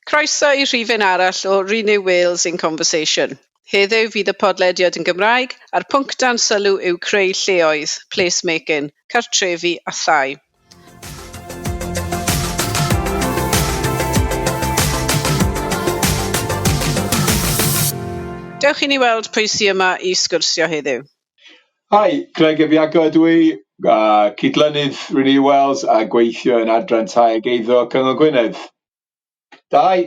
Croeso i rhifyn arall o Renew Wales in Conversation. Heddiw fydd y podlediad yn Gymraeg, a'r pwnc dan sylw yw creu lleoedd, place making, cartrefi a thai. Dewch i ni weld pwy sy yma i sgwrsio heddiw. Hi, Craig ap Iago ydw i, cydlynydd Renew Wales a gweithio yn Adran Tai ac Eiddo Cyngor Gwynedd. Dau.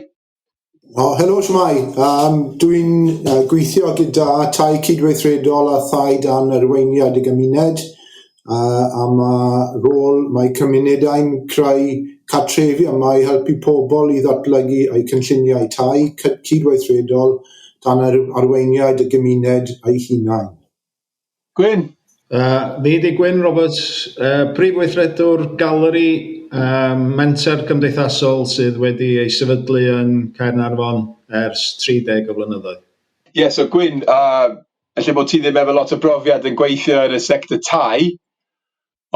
O, helo, siwmai. Um, dwi'n uh, gweithio gyda Tai Cydweithredol a Thai Dan Arweiniad y Gymuned. yy am y rôl mae cymunedau'n creu cartrefi yma i helpu pobl i ddatblygu eu cynlluniau tai cy- cydweithredol dan yr arweiniad y gymuned eu hunain. Gwyn. Yy, fi ydi Gwyn Roberts, yy Prif Weithredwr Galeri, yym menter cymdeithasol sydd wedi ei sefydlu yn Caernarfon ers 30 o flynyddoedd. Ie, so Gwyn, a Ella bod ti ddim efo lot o brofiad yn gweithio yn y sector tai,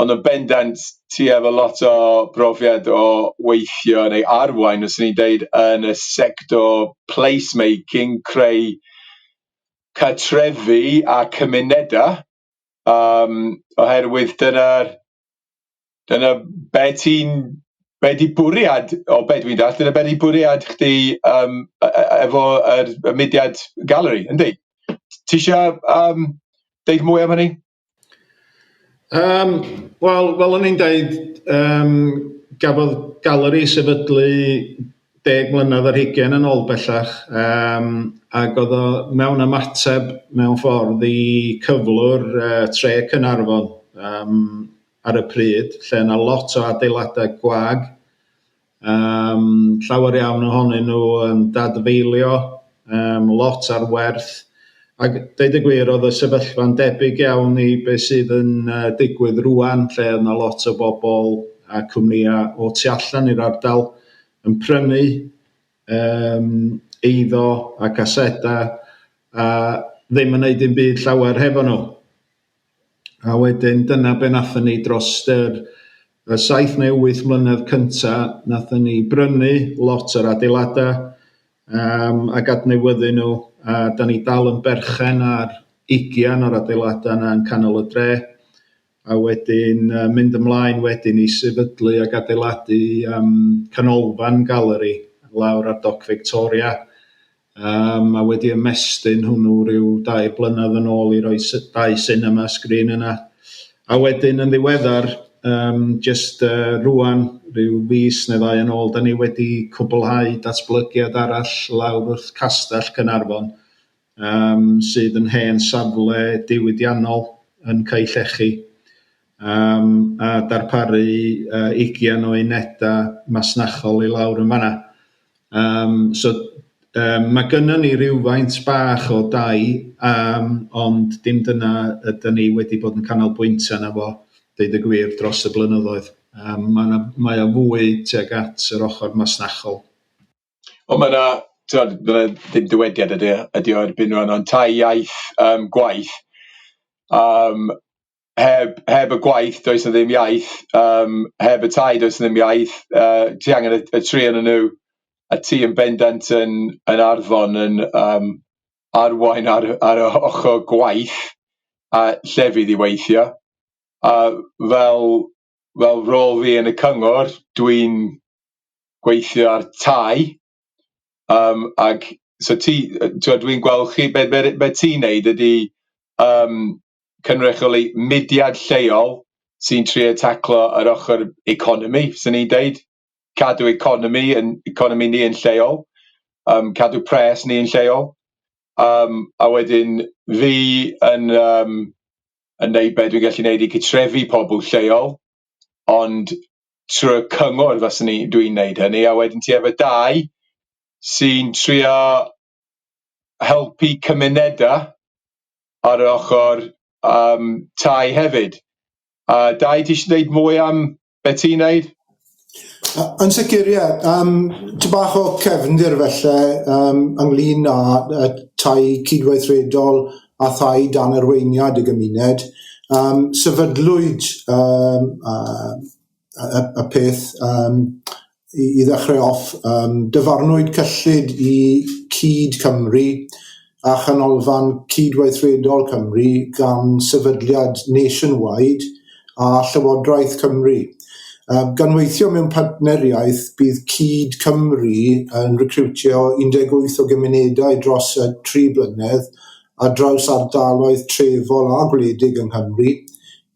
ond yn bendant ti efo lot o brofiad o weithio neu arwain, os ni'n deud, yn y sector placemaking, creu cartrefi a cymunedau, um, oherwydd dyna'r Dyna be ti'n... be 'di bwriad, o be dwi'n dallt, dyna be 'di bwriad chdi yym e- e- efo yr y mudiad Galeri, yndi? Ti isio yym deud mwy am hynny? Yym wel fel o'n i'n deud yym gafodd Galeri sefydlu deg mlynedd ar hugain yn ôl bellach, um, ac oedd o mewn ymateb mewn ffordd i cyflwr uh, tre Cynarfon um, ar y pryd, lle yna lot o adeiladau gwag, um, llawer iawn ohonyn nhw yn dadfeilio, um, lot ar werth. Ac dweud y gwir, oedd y sefyllfa'n debyg iawn i beth sydd yn uh, digwydd rwan, lle oedd yna lot o bobl a cwmnïau o tu allan i'r ardal yn prynu um, eiddo a casedau a ddim yn neud dim byd llawer hefo nhw. A wedyn dyna be wnaethon ni dros yr y saith neu wyth mlynedd cynta, wnaethon ni brynu lot o'r adeiladau um, ac adnewyddu nhw, a da ni dal yn berchen ar ugian o'r adeiladau yna yn canol y dre, a wedyn uh, mynd ymlaen wedyn i sefydlu ac adeiladu um, canolfan galeri lawr ar Doc Victoria, Yym a wedi ymestyn hwnnw rhyw dair blynedd yn ôl i roi dau sinema sgrin yna. A wedyn yn ddiweddar, um, just uh, rwan, rhyw fus neu ddau yn ôl, da ni wedi cwblhau datblygiad arall lawr wrth Castell Cynarfon, um, sydd yn hen safle diwydiannol yn Caellechi. um, a darparu uh, ugian o unedau masnachol i lawr yn fanna. Um, so, um, mae gynnon ni rhywfaint bach o dai, um, ond dim dyna ydyn ni wedi bod yn canolbwyntio yna fo, dweud y gwir, dros y blynyddoedd. Um, mae, na, mae o fwy tuag at yr ochr masnachol. Ond mae yna, ti'n meddwl, ddim dywediad ydy, ydy o erbyn rhan o'n tai iaith um, gwaith. Um, heb heb y gwaith does 'na ddim iaith yym heb y tai does 'na ddim iaith yy ti angen y, y tri yn y nhw a ti yn bendant yn yn arfon yn yym arwain ar ar y ochr gwaith a lle fydd i weithio a fel fel rôl fi yn y cyngor dwi'n gweithio ar tai Yym ac so ti yy t'wod dwi'n gweld chi be- be- be- be' ti'n neud ydi yym cynrychioli mudiad lleol sy'n trio taclo yr ochor economi swn i'n deud, cadw economi yn economi ni yn lleol yym cadw pres ni yn lleol yym a wedyn fi yn yym yn neud be' dwi'n gallu neud i cytrefi pobol lleol ond trwy y cyngor faswn i dwi'n neud hynny a wedyn ti efo dau sy'n trio helpu cymuneda ar yr ochor yym tai hefyd a dau ti isio deud mwy am be' ti'n neud? Yy yn sicir ie yym ty' bach o cefndir falle yym ynglŷn â yy tai cydweithredol a thai dan arweiniad y gymuned, um, sefydlwyd um, uh, y, y peth um, i, i ddechrau off, um, dyfarnwyd cyllid i Cyd Cymru a chanolfan cydweithredol Cymru gan sefydliad Nationwide a Llywodraeth Cymru. Um, gan weithio mewn partneriaeth, bydd Cyd Cymru yn recriwtio 18 o gymunedau dros y tri blynedd ar draws ardaloedd trefol a gwledig yng Nghymru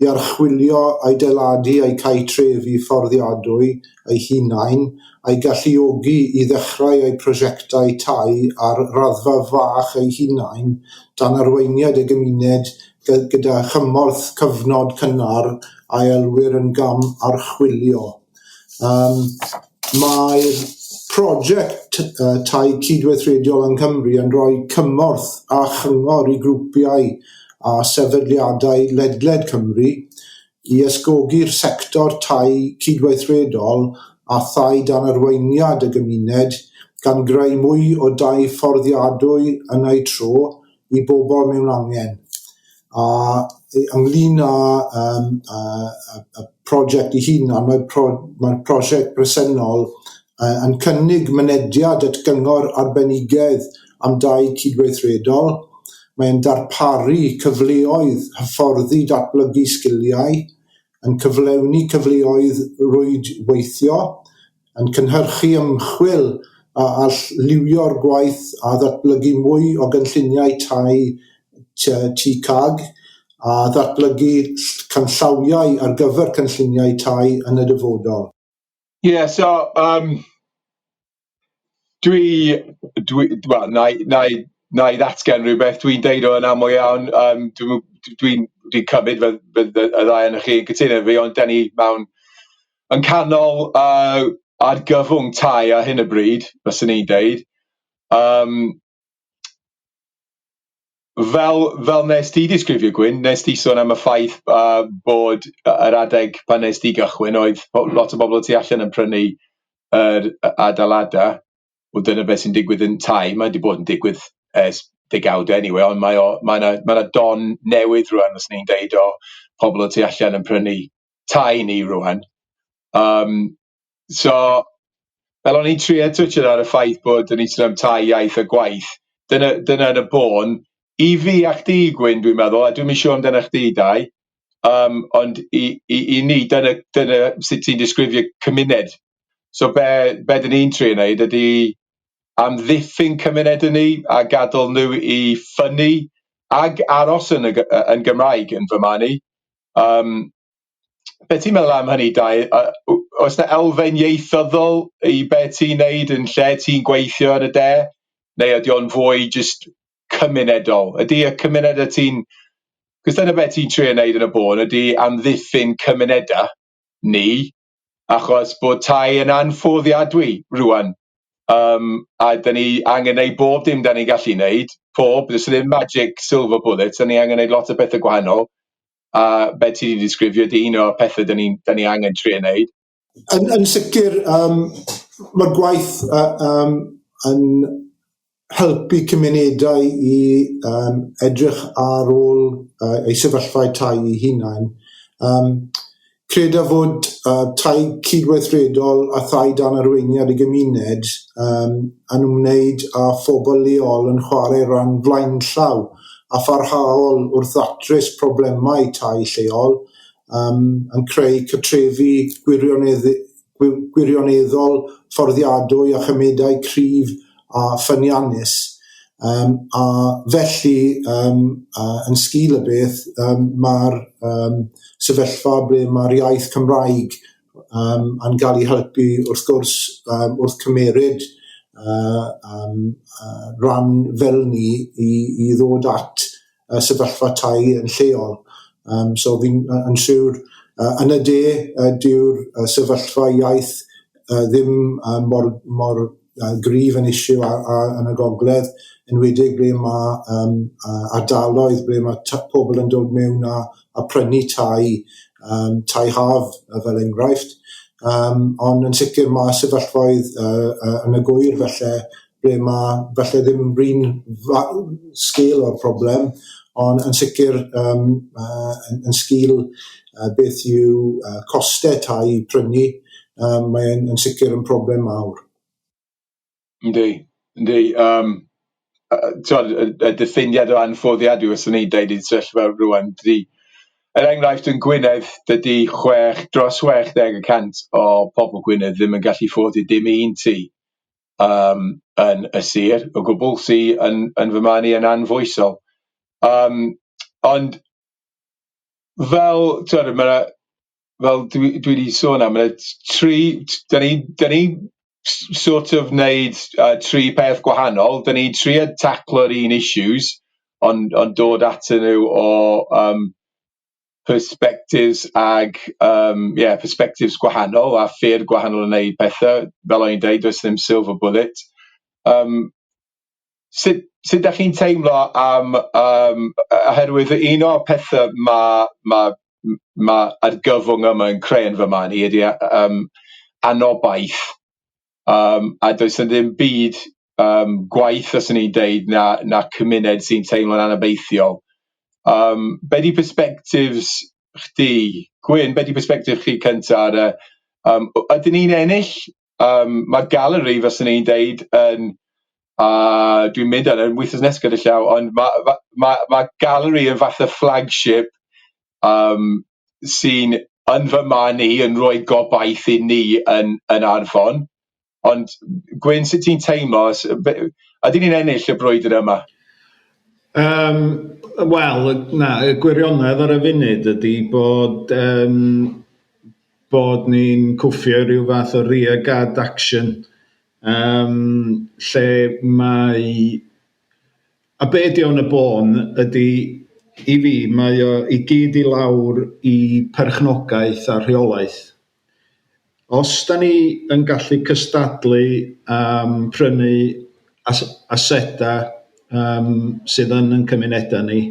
i archwilio, adeiladu a'u cau trefi fforddiadwy eu hunain, a'u galluogi i ddechrau eu prosiectau tai ar raddfa fach eu hunain dan arweiniad y gymuned gyda chymorth cyfnod cynnar a elwir yn gam archwilio. Um, Mae'r prosiect uh, Tai Cydweithrediol yng Nghymru yn rhoi cymorth a chyngor i grwpiau a sefydliadau ledled Cymru i ysgogi'r sector tai cydweithredol a thai dan arweiniad y gymuned, gan greu mwy o dai fforddiadwy yn eu tro, i bobl mewn angen, a yy ynglŷn â yym yy y y project 'i hun, a mae'r pro- mae'r prosiect bresennol yy yn cynnig mynediad at gyngor arbenigedd am dai cydweithredol, mae'n darparu cyfleoedd hyfforddi datblygu sgiliau, yn cyflewni cyfleoedd rwydweithio, yn cynhyrchu ymchwil a all liwio'r gwaith a ddatblygu mwy o gynlluniau tai tŷ CAG a ddatblygu canllawiau ar gyfer cynlluniau tai yn y dyfodol. Ie, yeah, so, um, dwi, dwi, wel, na i, na i, na i ddatgen rhywbeth, dwi'n deud o'n aml iawn, um, dwi'n dwi, dwi cymryd fy, fy, fy, y ddau yn chi yn cytuno fi, ond da ni mewn yn canol yy argyfwng tai ar hyn o bryd fyswn i'n deud yym fel fel nes di disgrifio Gwyn nes di sôn am y ffaith yy bod yy yr adeg pan nes di gychwyn oedd po- lot o bobol y tu allan yn prynu yr yy adeilada wel dyna beth sy'n digwydd yn tai ma' di bod yn digwydd ers degawd eniwe ond mae o ma' na ma' na don newydd rŵan fyswn i'n deud o pobol y tu allan yn prynu tai ni rŵan yym so fel o'n i'n trio twtio ar y ffaith bod o'n i'n sôn am tai iaith a gwaith dyna dyna yn y bôn i fi a chdi Gwyn dwi'n meddwl a dwi'm isio amdana chdi Dai yym ond i i i ni dyna dyna sut ti'n disgrifio cymuned so be' be' dyn ni'n trio neud ydi amddiffyn cymunedau ni a gadal n'w i ffynnu ag aros yn y Gymraeg yn fy marn i. Yym be' ti'n meddwl am hynny Dai yy w- oes na elfen ieithyddol i be' ti'n neud yn lle ti'n gweithio yn y de neu ydi o'n fwy jyst cymunedol ydi y cymuned y ti'n cos dyna be' ti'n trio neud yn y bôn ydi amddiffyn cymuneda ni achos bod tai yn anffoddiadwy rŵan yym a 'da ni angen neud bob dim 'da ni'n gallu neud, pob, does ddim magic silver bullets 'da ni angen neud lot o pethe gwahanol a fel ti 'di disgrifio di un o'r pethe 'da ni'n 'da ni angen trio neud. Yn yn sicir yym ma'r gwaith yy yym yn helpu cymunedau i um, edrych ar ôl uh, ei sefyllfa tai ei hunain. Um, creda fod uh, tai cydweithredol a thai dan arweiniad y gymuned um, yn ymwneud â phobl leol yn chwarae rhan flaenllaw a pharhaol wrth ddatrys problemau tai lleol, um, yn creu cytrefi gwirioneddol gwirioneddol fforddiadwy a chymedai cryf a ffyniannus um, a felly um, uh, yn sgil y beth um, mae'r um, sefyllfa ble mae'r iaith Cymraeg um, yn cael ei helpu wrth gwrs um, wrth cymeryd uh, um, uh, rhan fel ni i, i ddod at y sefyllfa tai yn lleol. Um, so fi'n yn siŵr uh, yn y de uh, dyw'r uh, sefyllfa iaith uh, ddim uh, mor, mor uh, grif yn eisiau a, a, yn y gogledd, yn wedig ble mae um, uh, ardaloedd ble mae pobl yn dod mewn a, a prynu tai, um, tai haf fel enghraifft. Um, ond yn sicr mae sefyllfaoedd uh, uh, yn y gwyr felly ble ma' falle ddim yn brin fa- sgil o'r problem, ond yn sicr um, uh, yn, yn sgil uh, beth yw uh, costau tai prynu, um, mae'n yn sicr yn problem mawr. Yndi, yndi. Um, tywed, y, y diffiniad o anffoddiad yw ysyn ni deud i'n sefyllfa rwan. Dydy, er enghraifft yn Gwynedd, dydy 6, dros 60 y cant o pobl Gwynedd ddim yn gallu ffoddi dim un ti. yym yn y sir o gwbl sy yn yn fy marn i yn anfoesol yym ond fel t'wod ma' na fel dwi dwi di sôn am ma' na t- tri t- dan ni dan ni s- sort of neud yy tri peth gwahanol dan ni'n trio taclo'r un issues ond ond dod atyn n'w o yym perspectives ag um, yeah, perspectives gwahanol a ffyrdd gwahanol yn neud pethau. Fel o'n i'n dweud, does ddim silver bullet. Um, sut, sut da chi'n teimlo am, um, oherwydd un o'r pethau mae ma, ma argyfwng yma yn creu yn fy man i ydy um, anobaith um, a does yna ddim byd um, gwaith os ni'n deud na, na cymuned sy'n teimlo'n anabeithiol. Um, be di perspectives chdi, Gwyn, be di perspective chi cynta ar y, um, ydyn ni'n ennill? Um, mae galeri, fes ni'n deud, yn, a uh, dwi'n mynd ar yn wythnos nes gyda llaw, ond mae ma, ma, ma galeri yn fath o flagship yym sy'n yn fy marn i yn rhoi gobaith i ni yn yn Arfon ond Gwyn sut ti'n teimlo os yy be- ydyn ni'n ennill y brwydr yma? Yym wel y- na y gwirionedd ar y funud ydy bod yym bod ni'n cwffio rhyw fath o rear guard action yym lle mae A be ydy o yn y bôn ydy, i fi, mae o i gyd i lawr i perchnogaeth a rheolaeth. Os da ni yn gallu cystadlu am prynu as- asedau yym sydd yn ein cymunedau ni,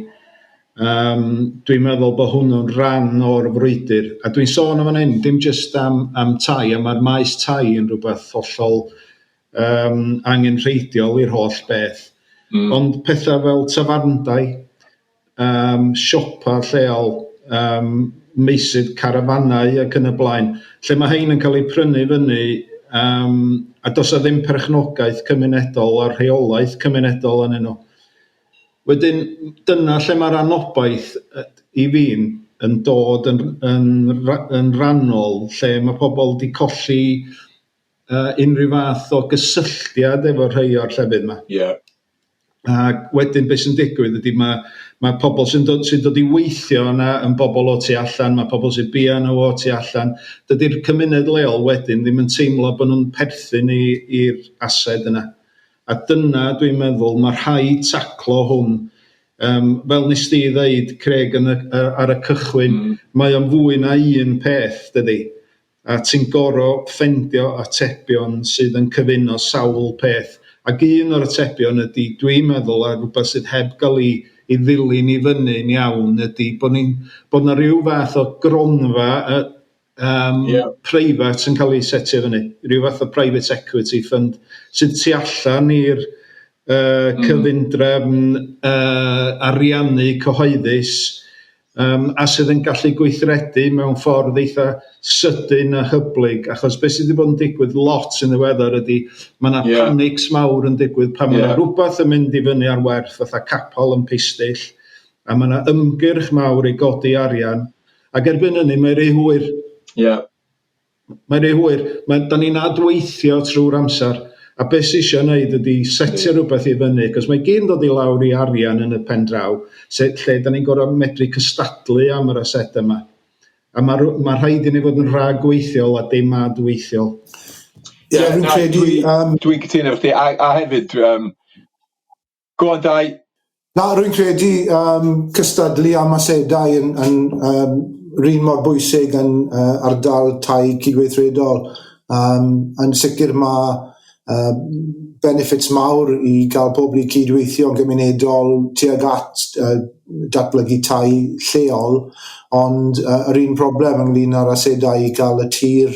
yym dwi'n meddwl bod hwnnw'n ran o'r frwydr. A dwi'n sôn yn fan hyn dim jyst am am tai, ond mae'r maes tai yn rhywbeth hollol yym angenrheidiol i'r holl beth. Mm. Ond pethau fel tafarndai, um, siopa lleol, um, meysydd carafanau ac yn y blaen, lle mae hein yn cael eu prynu fyny um, a dos a ddim perchnogaeth cymunedol a rheolaeth cymunedol yn nhw. Wedyn, dyna lle mae'r anobaith i fi'n yn dod yn, yn, yn rannol, lle mae pobl wedi colli uh, unrhyw fath o gysylltiad efo rhai o'r llefydd yma. Ie. Yeah. Ac wedyn beth sy'n digwydd ydy mae ma' pobl sy'n dod sy'n dod i weithio yna yn bobl o tu allan, mae pobl sy'n bia yna o tu allan. Dydy'r cymuned leol wedyn ddim yn teimlo bod nhw'n perthyn i'r ased yna. A dyna dwi'n meddwl mae rhai taclo hwn Um, fel nes di ddeud, Craig, yn y, ar y cychwyn, mm. mae o'n fwy na un peth, dydy. A ti'n goro ffendio atebion sydd yn cyfuno sawl peth. Ac un o'r atebion ydi, dwi'n meddwl, a rwbath sydd heb ga'l 'i 'i ddilyn i fyny'n iawn ydi bo' ni'n bo' 'na ryw fath o gronfa yy yym... Ie. ...preifat yn ca'l 'i setio fyny, ryw fath o private equity fund sydd tu allan i'r yy... Hmm. ...cyfundrefn yy ariannu cyhoeddus yym a sydd yn gallu gweithredu mewn ffordd eitha' sydyn a hyblyg achos be' sydd wedi bod yn digwydd lot yn ddiweddar ydy ma' 'na yeah. panics mawr yn digwydd pan yeah. mae rhywbeth yn mynd i fyny ar werth fatha capal yn pistyll a mae yna ymgyrch mawr i godi arian ac erbyn hynny mae rhy hwyr. Ie. Yeah. Mae'n rhy hwyr. Mae... dan ni'n adweithio trwy'r amser, a beth sydd eisiau wneud ydy setio rhywbeth i fyny, cos mae gyd yn dod i lawr i arian yn y pen draw, se- lle dan ni'n gorfod medru cystadlu am yr asedau yma. A mae rhw- mae rhaid i ni fod yn rhagweithiol a dim adweithiol. Ie, Ie, fi'n na, credu, dwi- yym, Dwi'n cytuno efo chdi, a, a hefyd, um, Go on Dai. Na, rwy'n credu um, cystadlu am asedau yn, yn um, rhan mor bwysig yn uh, ardal tai cydweithredol. Um, yn sicr mae uh, benefits mawr i gael pobl i cydweithio yn gymunedol tuag at uh, datblygu tai lleol, ond uh, yr un problem ynglyn â'r asedau i gael y tir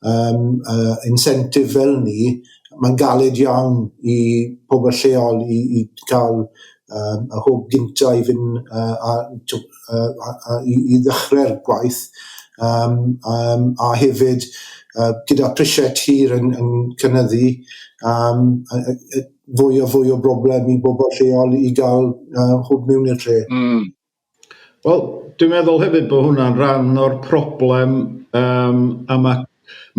um, uh, incentive fel ni, mae'n galed iawn i pobl lleol i, i cael um, y hwb gynta i fynd uh, a, uh, a, a, i, i ddechrau'r gwaith um, um, a hefyd uh, gyda prisiau tir yn, yn cynyddu um, a, a, fwy o fwy o broblem i bobl lleol i gael uh, hwb mewn i'r lle. Mm. Wel, dwi'n meddwl hefyd bod hwnna'n rhan o'r problem yym a ma'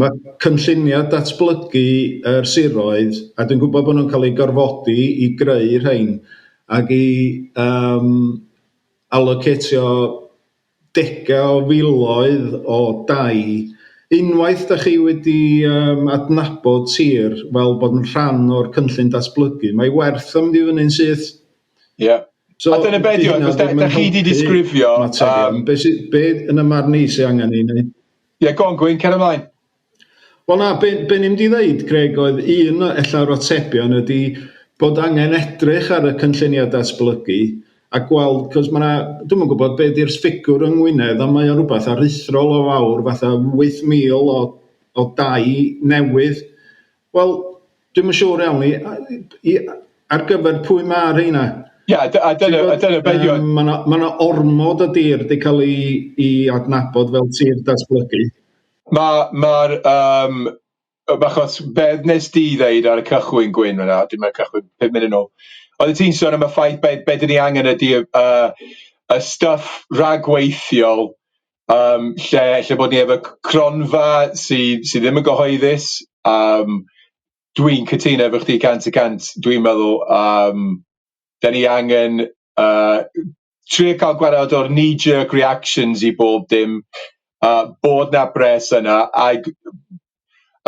ma' cynlluniau datblygu yr siroedd, a dwi'n gwybod bod nhw'n cael eu gorfodi i greu rhein ac i yym alocetio degau o filoedd o dai, unwaith dach chi wedi yym adnabod sir fel bod yn rhan o'r cynllun datblygu, mae ei werth o mynd i fyny'n syth. Ie. So, a dyna beth yw, da, da chi wedi disgrifio... Um, be, sy, be yn y marn i sy'n angen i wneud? Ie, yeah, go on Gwyn, cer ymlaen. Wel na, be, be ni'n mynd i ddeud, Greg, oedd un efallai o'r atebion ydy bod angen edrych ar y cynlluniau datblygu a gweld, cos mae yna, dwi'n yn gwybod beth yw'r ffigwr yng Ngwynedd, ond mae o'n rhywbeth aruthrol o fawr, fatha 8,000 o, o dau newydd Wel, dwi'm yn siŵr iawn i, i ar gyfer pwy mae rheina. Ie, a dyna, a dyna beth yw... Mae yna ma ormod o dir wedi cael ei, ei adnabod fel tir datblygu. Mae'r... Ma um, achos be nes di ddeud ar y cychwyn Gwyn yna, dim ar y cychwyn, pum munud yn ôl, oedd ti'n sôn am y ffaith be, be dyn ni angen ydy y, uh, y stuff rhagweithiol yym lle lle bod ni efo c- cronfa sy sy ddim yn gyhoeddus yym dwi'n cytuno efo chdi cant y cant dwi'n meddwl yym da ni angen yy trio ca'l gwared o'r knee jerk reactions i bob dim a bod na bres yna ag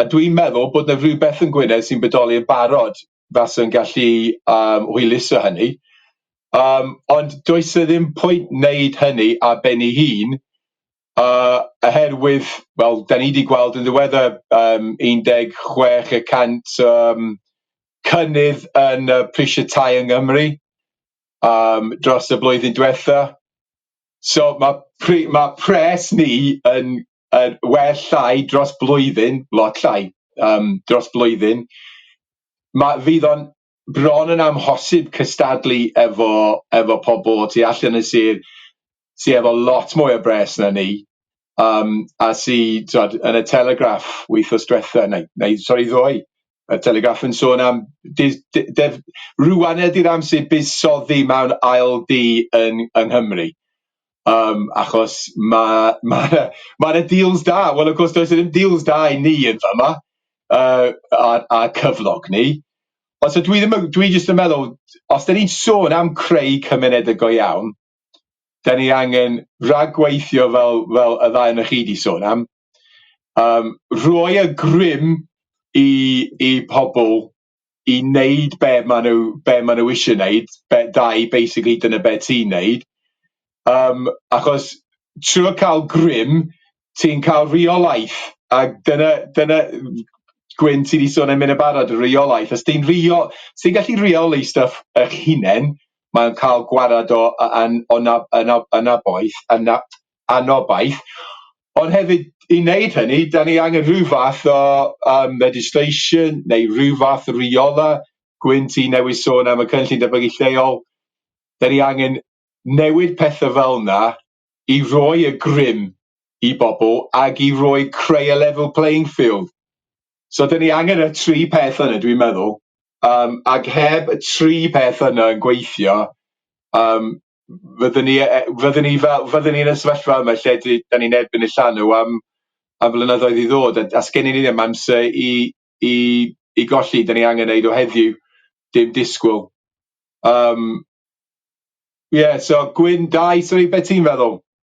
a dwi'n meddwl bod na rywbeth yn Gwynedd sy'n bodoli yn barod faswn gallu yym hwyluso hynny yym ond does e ddim pwynt neud hynny ar ben ei hun yy oherwydd wel dan ni di gweld yn ddiweddar yym un deg chwech y cant yym cynnydd yn yy prishe tai yng Nghymru yym dros y blwyddyn dwetha so ma' pri- ma' pres ni yn Yy well llai dros blwyddyn, lot llai yym dros blwyddyn, ma' fydd o'n bron yn amhosib cystadlu efo efo pobol y tu allan y sir sy efo lot mwy o bres na ni yym a sy t'wod yn y Telegraph wythnos dwetha neu neu sori ddoe y Telegraph yn sôn am dydd dy- def- rŵan ydi'r amser buddsoddi mewn ail dŷ yn yng Nghymru. Yym achos ma' ma' 'na ma' 'na deals da, wel of course does 'na ddim deals da i ni yn fama yy a'n a'n cyflog ni, ond so dwi ddim yn dwi jyst yn meddwl os 'dan ni'n sôn am creu cymunede go iawn, 'dan ni angen rhagweithio fel fel y ddau onoch chi 'di sôn am, yym rhoi y grym i i pobol i neud be ma' n'w be ma' n'w isie neud be- dau basically dyna be' ti'n neud yym achos trw'r ca'l grym ti'n ca'l rheolaeth ag dyna dyna w- Gwyn ti di sôn am hyn yn barod y rheolaeth os ti'n rheo- os ti'n gallu rheoli stwff eich hunen ma'n ca'l gwarad o a- an- o na- yna yna boeth yna anobaith, ond hefyd i wneud hynny, da ni angen rhyw fath o um, legislation neu rhyw fath o riola gwynt i newid sôn am y cynllun datblygu lleol. Da ni angen newid pethau fel yna i roi y grym i bobl ac i roi creu a level playing field. So da ni angen y tri peth yna dwi'n meddwl, um, ac heb y tri peth yna yn gweithio, um, fydden ni e- e- fydden ni fel fydden ni yn y sefyllfa yma lle dwi da ni'n erbyn y llanw am am flynyddoedd i ddod a a sgennyn ni ddim amser i i i golli da ni angen neud o heddiw dim disgwl yym ie so gwyn dau sori be' ti'n feddwl?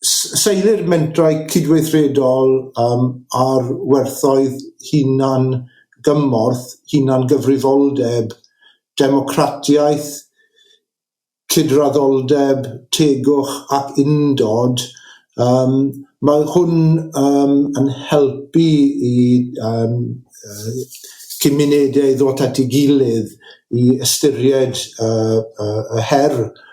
seilir mentrau cydweithredol um, ar werthoedd hunan gymorth, hunan gyfrifoldeb, democratiaeth, cydraddoldeb, tegwch ac undod, um, mae hwn um, yn helpu i um, cymunedau ddod at ei gilydd i ystyried uh, uh, y her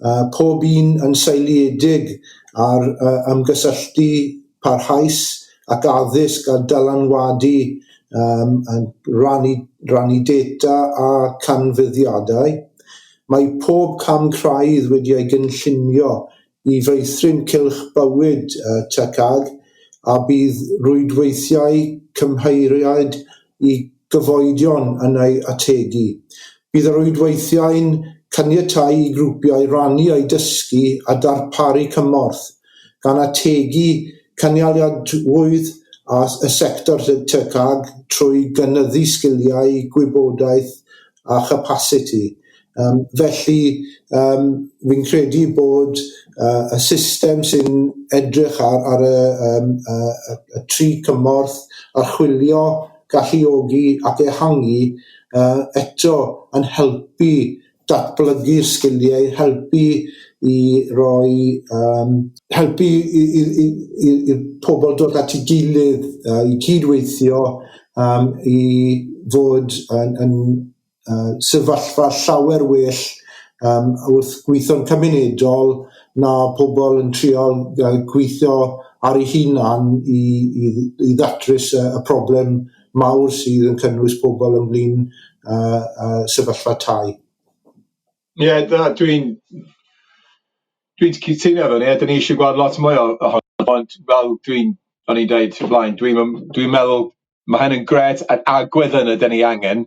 uh, pob un yn seiliedig ar uh, ymgysylltu parhaus ac addysg a dylanwadu um, yn rannu, rannu data a canfyddiadau. Mae pob cam craidd wedi ei gynllunio i feithrin cylch bywyd uh, TCAG a bydd rwydweithiau cymheiriaid i gyfoedion yn ei ategu. Bydd y rhwydweithiau'n caniatáu i grwpiau rannu eu dysgu a darparu cymorth, gan ategu cynaliadwyedd y sector TCAG trwy gynyddu sgiliau, gwybodaeth a chapasiti. Yym felly yym fi'n credu bod yy y system sy'n edrych ar ar y yym y y y tri cymorth archwilio, galluogi ac ehangu yy eto yn helpu datblygu sgiliau, helpu i roi yym helpu i i i i i'r pobl dod at ei gilydd yy i cyd-weithio um, i fod yn, yn uh, sefyllfa llawer well um, wrth gweithio'n cymunedol na pobl yn trial uh, gweithio ar ei hunan i, i, i ddatrys y, y problem mawr sydd yn cynnwys pobl ynglyn uh, uh, sefyllfa tai. Ie, yeah, dwi'n Dwi'n cytuno efo ni, a dyn ni eisiau gweld lot mwy ohono, ond fel dwi'n... o'n i'n dweud o'r blaen, dwi'm yn... dwi'n meddwl ma' hyn yn grêt a'r agwedd yna dyn ni angen,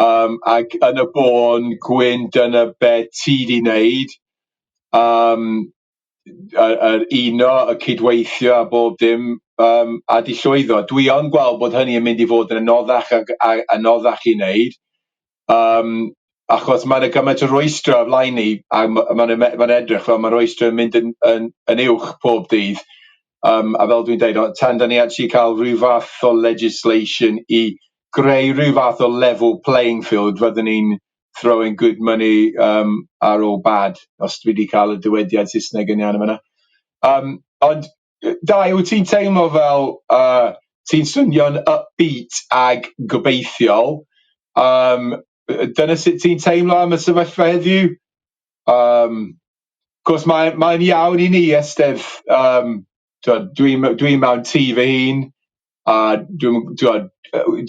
yym ac yn y bôn gwyn dyna be' ti di neud, yym yy yr uno, y cydweithio a bob dim yym a di llwyddo, dwi yn gweld bod hynny yn mynd i fod yn anoddach ag a- anoddach i neud, yym achos ma' 'na gymaint o rwystre ar flaen ni a ma' ma' 'na ma' 'na edrych fel ma' rwystre yn mynd yn yn yn uwch pob dydd yym a fel dwi'n deud o tan 'dan ni actually ca'l ryw fath o legislation i greu ryw fath o level playing field fyddwn ni'n throwing good money yym ar ôl bad os dwi 'di ca'l y dywediad Saesneg yn iawn yn fan'na yym ond Dai, wyt ti'n teimlo fel uh, ti'n swnio'n upbeat ag gobeithiol? Um, dyna sut ti'n teimlo am y sefyllfa heddiw? Um, cos mae'n mae iawn i ni ystyr, um, dwi'n dwi, dwi mewn tŷ fy hun, a dwi'n, dwi,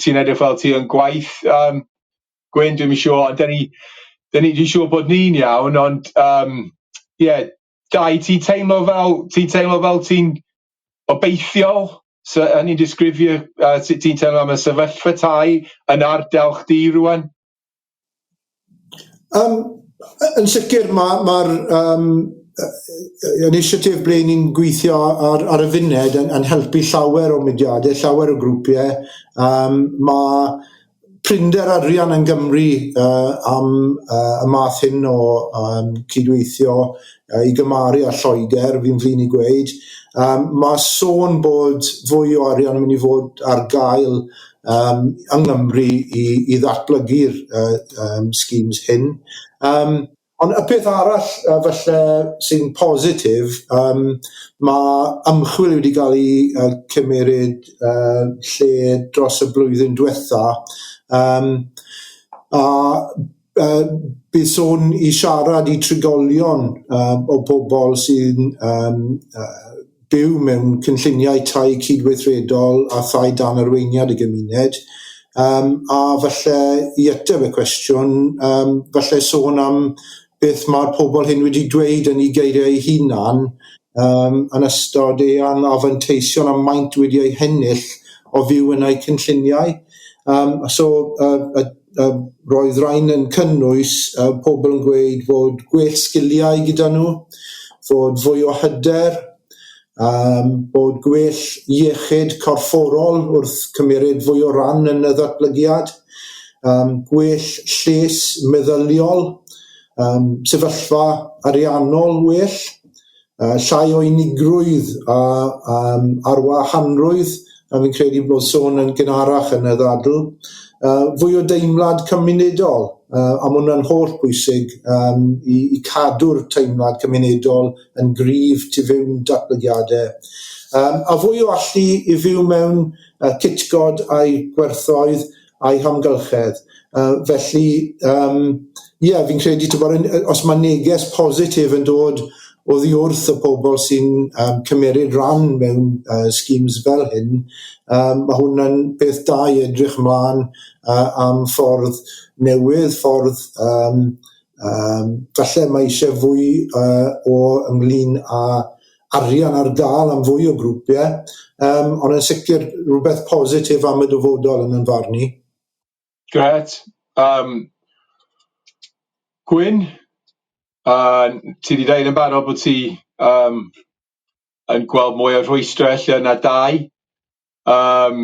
ti'n edrych fel ti yn gwaith, um, Gwyn, dwi'n siŵr, da ni, da ni, dwi'n siŵr bod ni'n iawn, ond, um, yeah, Dai, ti'n teimlo fel, ti'n teimlo fel ti'n obeithiol? So, yn i'n disgrifio uh, sut ti'n teimlo am y sefyllfa tai yn ardal chdi rwan? Um, yn sicr mae'r ma, ma um, inisiatif ble ni'n gweithio ar, ar y funed yn, yn helpu llawer o mudiadau, llawer o grwpiau. Um, mae prinder arian yn Gymru uh, am uh, y math hyn o um, cydweithio uh, i gymaru â Lloegr, fi'n flin i gweud. Um, mae sôn bod fwy o arian yn mynd i fod ar gael um, yng Nghymru i, i ddatblygu'r uh, um, schemes hyn. Um, Ond y peth arall yy falle sy'n positif yym ma' ymchwil wedi ga'l 'i yy cymeryd yy lle dros y blwyddyn dwetha yym a yy bydd sôn i siarad i trigolion yy o pobol sy'n yym yy byw mewn cynlluniau tai cydweithredol a thai dan arweiniad y gymuned, yym, a falle i ateb y cwestiwn, yym, falle sôn am beth mae'r pobl hyn wedi dweud yn eu geiriau eu hunan, yym, yn ystod eu anfanteision a maint wedi eu hennill o fyw yn eu cynlluniau. Yym, so, yy, y Yy roedd rain yn cynnwys yy pobl yn gweud fod gwell sgiliau gyda nhw, fod fwy o hyder, yym bod gwell iechyd corfforol wrth cymeryd fwy o ran yn y ddatblygiad, yym gwell lles meddyliol, yym sefyllfa ariannol well, Yy, llai o unigrwydd a yym arwahanrwydd, a fi'n credu bod sôn yn gynharach yn y ddadl. Yy, fwy o deimlad cymunedol, yy, a ma' hwnna'n holl bwysig yym i i cadw'r teimlad cymunedol yn gryf tu fewn datblygiade. Yym, a fwy o allu i fyw mewn yy cytgod a'i gwerthoedd, a'i hamgylchedd. Uh, felly, um, ie, yeah, fi'n credu, ti'n bod, os mae neges positif yn dod o ddi wrth y pobl sy'n um, cymeryd rhan mewn uh, schemes fel hyn, um, mae hwnna'n beth da i edrych ymlaen uh, am ffordd newydd, ffordd um, um, falle mae eisiau fwy uh, o ynglyn â arian ar gael am fwy o grwpiau, yym ond yn sicr rhywbeth positif am y dyfodol yn yn farn i. Grêt. Yym Gwyn, yy ti 'di deud yn barod bod ti yym yn gweld mwy o rhwystrau ella na dau, yym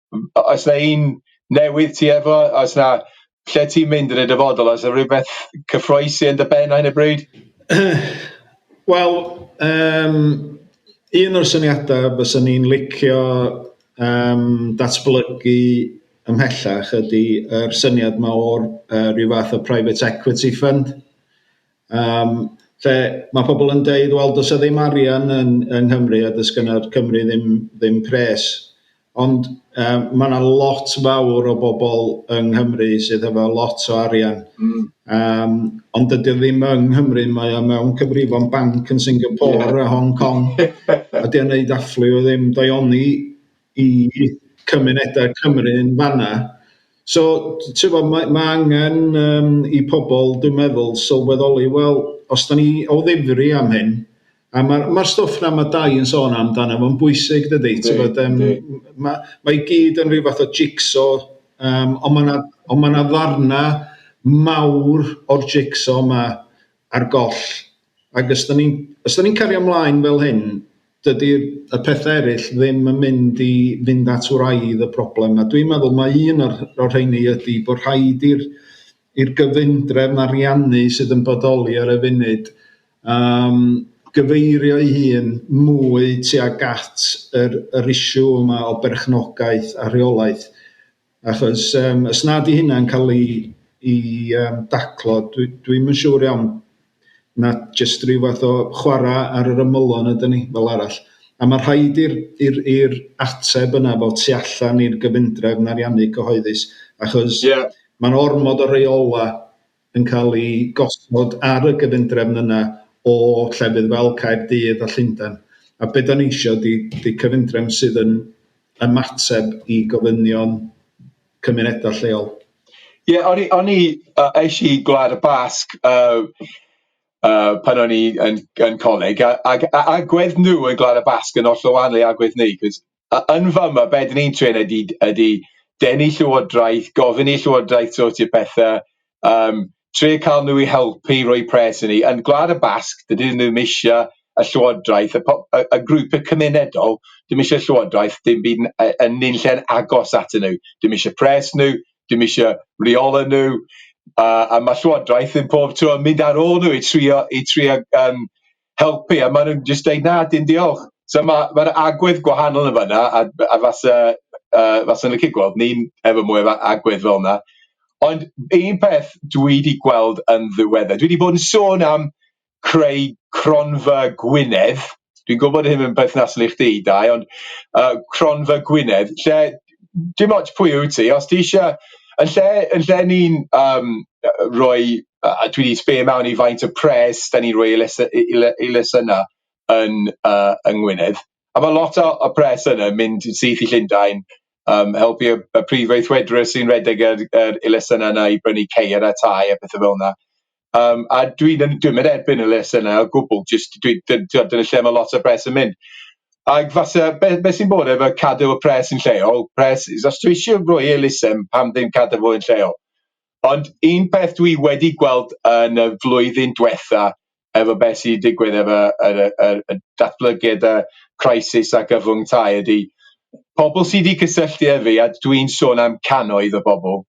M- o- oes 'na un newydd ti efo oes 'na lle ti'n mynd yn y dyfodol oes 'na rywbeth cyffroes yn dy ben ar hyn o bryd? Wel yym un o'r syniada fysa ni'n licio yym datblygu ymhellach ydi yr syniad 'ma o'r yy ryw fath o private equity fund Yym lle mae pobl yn deud wel does 'na ddim arian yn yng Nghymru a does gynna'r Cymru ddim ddim pres. Ond yym ma' 'na lot fawr o bobl yng Nghymru sydd efo lot o arian. Mm. Yym ond dydy o ddim yng Nghymru, mae o mewn cyfrifon banc yn Singapore yeah. a Hong Kong. a 'di o'n neud afflu o ddim. Dai oni i cymunedau Cymru yn fan 'na. So t- tibod mae mae angen yym i pobl dwi'n meddwl sylweddoli wel os 'dan ni o ddifri am hyn a ma'r ma'r stwff 'na ma' Dai yn sôn amdano fo'n bwysig dydi tibod yym ma' ma' i gyd yn rhyw fath o jig-so yym ond ma' 'na ond ma' 'na ddarna mawr o'r jig-so 'ma ar goll. Ac os 'dan ni'n os 'dan ni'n cario ymlaen fel hyn, dydy y pethau eraill ddim yn mynd i fynd at wraidd y problem, a dwi'n meddwl mai un o'r o'r rheini ydy bod rhaid i'r i'r gyfundrefn ariannu sydd yn bodoli ar y funud um, gyfeirio ei hun mwy tuag at yr yr issue yma o berchnogaeth a rheolaeth. Achos yym os na 'di hynna'n cael ei ei yym daclo dwi dwi'm yn siŵr iawn na jyst ryw fath o chwarae ar yr ymylon ydan ni fel arall, a ma' rhaid i'r i'r i'r ateb yna fod tu allan i'r gyfundrefn ariannu cyhoeddus achos... Ie. ...ma'n ormod o reola yn cael ei gosod ar y gyfundrefn yna o llefydd fel Caerdydd a Llundain. A be da ni eisiau di, di cyfundrefn sydd yn ymateb i gofynion cymunedau lleol. Ie, yeah, o'n i, o'n i, uh, eis i Gwlad y Basg uh, uh, pan o'n i yn, yn coleg, a, a, a, a gwedd nhw yn Gwlad y Basg yn oll o wahanol i agwedd ni, cos Yn fama, be dyn ni'n trin ydi ydi denu Llywodraeth, gofyn i Llywodraeth sortio pethau, yym trio cael nhw i helpu i roi pres arni. Yn Gwlad y Basg, dydyn nhw ddim eisiau y Llywodraeth, y po- y y grwpiau cymunedol ddim eisiau Llywodraeth dim byd n- yy yn nunlle'n agos atyn nhw, dim eisiau pres nhw, dim eisiau rheolau nhw, a a ma' Llywodraeth yn pob tro yn mynd ar ôl nhw i trio i trio yym helpu a ma' n'w'n jyst deud na dim diolch so ma' ma'r agwedd gwahanol yn fan'na a a fase yy fase'n licio gweld ni'n efo mwy o agwedd fel 'na ond un peth dwi 'di gweld yn ddiweddar dwi 'di bod yn sôn am creu cronfa Gwynedd dwi'n gwbod hyn yn perthnasol i chdi Dai ond yy cronfa Gwynedd lle dim ots pwy wyt ti os ti isie yn lle yn lle ni'n yym yy roi yy a dwi di sbio mewn i faint y pres da ni'n roi i lese- i i le- i lesyna yn yy yng Ngwynedd a ma' lot o y pres yna yn mynd syth i Llundain yym helpu y y prif weithredwr sy'n redeg yr yr i lesyna yna i brynu ceir a tai a pethe felna. Yym a dwi'n yn dwi'm yn erbyn y les yna o gwbwl jyst dwi dy- t'od dyna lle ma' lot o pres yn mynd ag fase be- be' sy'n bod efo cadw y pres yn lleol pres is os dwi isio roi elusen pam ddim cadw fo yn lleol ond un peth dwi wedi gweld yn y flwyddyn dwetha efo be' sy' digwydd efo yr yy yr y datblygiad y crisis a gyfwng tai ydi pobol sy' di cysylltu ef fi a dwi'n sôn am cannoedd o bobol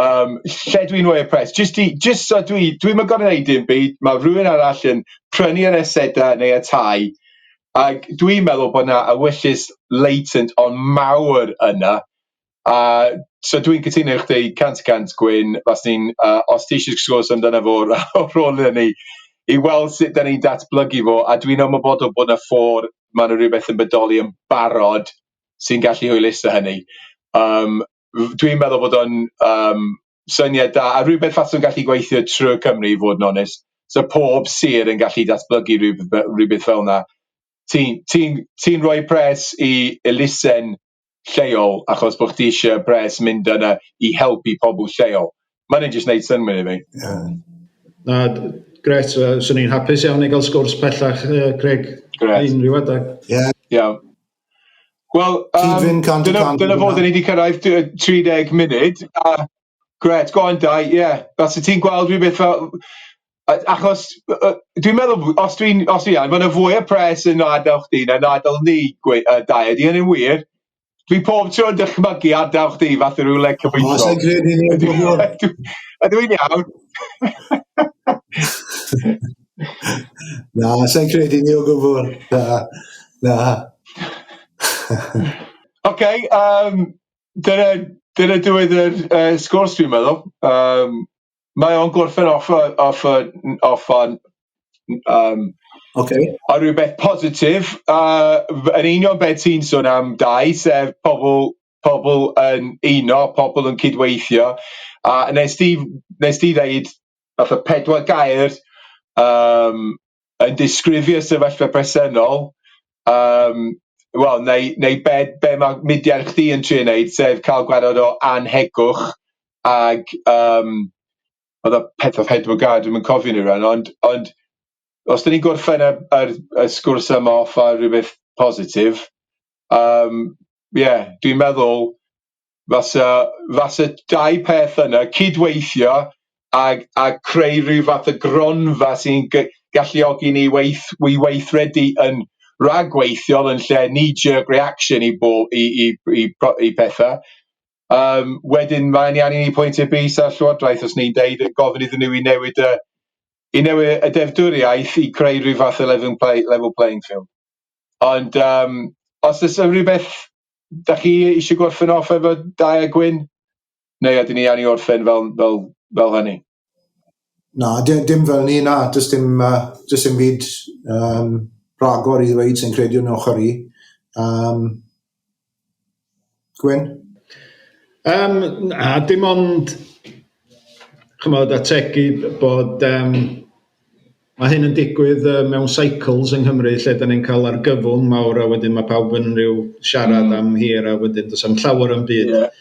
Yym lle dwi mwy impressed jyst i jyst so dwi dwi'm yn gor'o' neud dim byd ma' rywun arall yn prynu yr aseda neu y tai ag dwi'n meddwl bo' 'na ewyllys latent on' mawr yna a so dwi'n cytuno efo chdi cant y cant Gwyn faswn i'n yy os ti isie sgwrs amdano fo ra- o rôl ynny i weld sut 'dan ni'n datblygu fo a dwi'n ymwybodol bo' 'na ffôr ma' 'na rywbeth yn bodoli yn barod sy'n gallu hwyluso hynny yym dwi'n meddwl bod o'n yym syniad da a rywbeth faswn gallu gweithio trwy Cymru i fod yn onest so pob sir yn gallu datblygu rywb- fe- rywbeth felna ti'n ti'n ti'n roi pres i elusen lleol achos bo' chdi isie pres mynd yna i helpu pobol lleol ma' hynny'n jyst neud synnwyr i fi. Ie. Na d- grêt yy swn i'n hapus iawn i ga'l sgwrs pellach yy Craig... Grêt. ...unryw adag. Ie. Iawn. Wel, um, dyna, dyna fod ni wedi cyrraedd 30 munud, a gret, go on Dai, ie, os y ti'n gweld rhywbeth fel, achos dwi'n meddwl, os dwi'n, os dwi'n iawn, mae yna fwy o pres yn adael chdi na adael ni, gwe, uh, Dai, ydy hynny'n wir? Dwi pob tro yn dychmygu adael chdi fath o rywle cyfoethog. Os yn credu ni yn gwybod. A dwi'n iawn. Na, sa'n credu ni o gwbl. Na, na. OK, um, dyna, dyna diwedd yr uh, sgwrs fi'n meddwl. Um, mae o'n gorffen off, off, off on... Um, OK. A rhywbeth positif, uh, yn union beth ti'n sôn am dau, sef pobl, pobl yn uno, pobl yn cydweithio, a nes ti, nes ti ddeud fatha pedwar gair yym yn disgrifio sefyllfa presennol yym wel neu neu be be ma' mudiad chdi yn trio neud sef ca'l gwared o annhegwch ag yym o'dd o pedwar pedwar gair dwi'm yn cofio nw rŵan ond ond os dan ni'n gorffen y yr y sgwrs yma off ar rwbeth positif yym ie dwi'n meddwl fasa fasa dau peth yna cydweithio ag ag creu ryw fath o gronfa sy'n g- galluogi ni weith- i weithredu yn rhagweithiol yn lle knee jerk reaction i bo- i i i po- i petha yym wedyn mae'n iawn i ni pwyntio bys ar Llywodraeth os ni'n deud yy gofyn iddyn n'w i newid yy i newid y deddfwriaeth i creu ryw fath o lefyng play- level playing field ond yym os o's 'na rywbeth da chi eisiau gorffen off efo Dai a Gwyn? Neu ydyn ni angen orffen fel, fel, fel hynny? Na, dim, dim fel ni, na, dys dim, uh, dys dim byd um, rhagor i ddweud sy'n credu yn ochr i. Um, Gwyn? Um, na, dim ond chymod, ategu bod um, Mae hyn yn digwydd yy mewn cycles yng Nghymru lle da ni'n cael argyfwng mawr a wedyn mae pawb yn rhyw siarad mm. am hir a wedyn does am llawer yn byd yeah.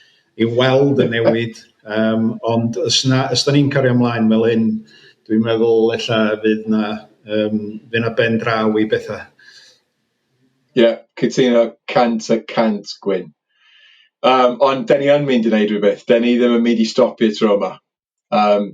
i weld y newid. Um, ond os, na, os da ni'n cario ymlaen fel hyn, dwi'n meddwl ella fydd na, um, fydd na ben draw i bethau. Ie, yeah, cytuno cant a cant gwyn. Um, ond da ni yn mynd i wneud rhywbeth. Da ni ddim yn mynd i stopio tro yma. Um,